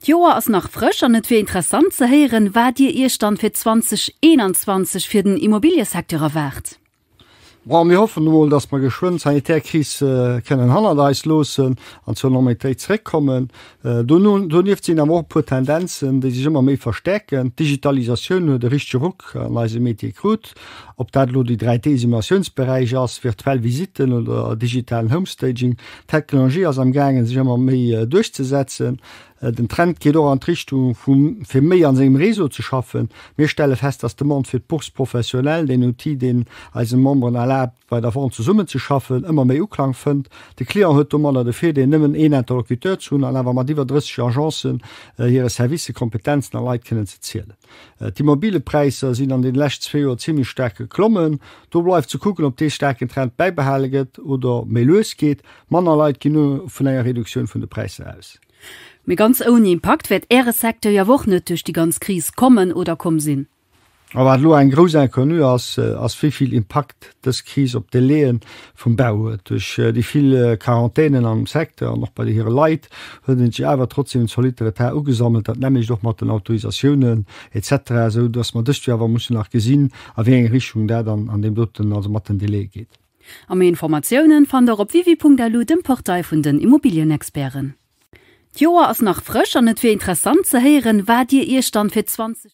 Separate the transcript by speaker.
Speaker 1: D'Joer ass nach frësch an et wier interessant ze héieren, wat Dir Iech dann fir 2021 fir den Immobiliësecteur erwaart? Bon, mir
Speaker 2: hoffen emol, dass mer geschwënn d'sanitär Kris kënnen hannert eis loossen an zur Normalitéit zeréckkommen. Donieft sinn awer och e puer Tendenzen, déi sech ëmmer méi verstärken. D'Digitalisatioun huet e richtege Ruck an eise Metier krut. Ob dat elo déi 3D-Simulatiounsberäich ass, virtuell Visitten oder digitalen Homestaging, d'Technologie ass am gaangen sech ëmmer méi duerchzesetzen. Den Trend geet och an d'Richtung vu fir méi an sengem Réseau ze schaffen. Mir stelle fest, dass d'Demande fir d'Bourse professionnelle, den Outil deen eisen Memberen erlaabt bei der Vente zesummen ze schaffen, ëmmer méi Uklang fënnt. De Client huet domadder de Virdeel nëmmen een Interlocuteur ze hunn an awer mat iwwer 30 Agencen, hire Servicer, Kompetenzen a Leit kënnen ze zielen. D'Immobillepräisser sinn an den lescht zwee Joer zimmlech staark geklommen. Do bleift ze kucken, ob dee staarken Trend bäibehale gëtt oder méi lues geet. Manner Leit ginn elo vun enger Reduktioun vun de Präisser aus. Mee ganz
Speaker 1: ouni Impakt wäert Äre Secteur jo awer och net duerch déi ganz Kris kommen oder komm sinn. A wat elo eng
Speaker 2: grouss Inconnue ass, ass wéi vill Impakt dës Kris op Delaien vum Bau huet. Duerch déi vill Quarantänen am Secteur an och bei hire Leit huet en sech awer trotzdeem en zolitte Retard ugesammelt. Dat nämmlecht och mat den Autorisatiounen etc, esou datt mer dëst Joer awer mussen nach gesinn, a wéi eng Richtung dat an an deem doten, also mat den Delaie geet. A méi
Speaker 1: Informatiounen fannt der op wiwi.lu, dem Portail vun den Immobilienexperten. D'Joer ass nach frësch an et wier interessant ze héieren, wat dir iech dann fir 20.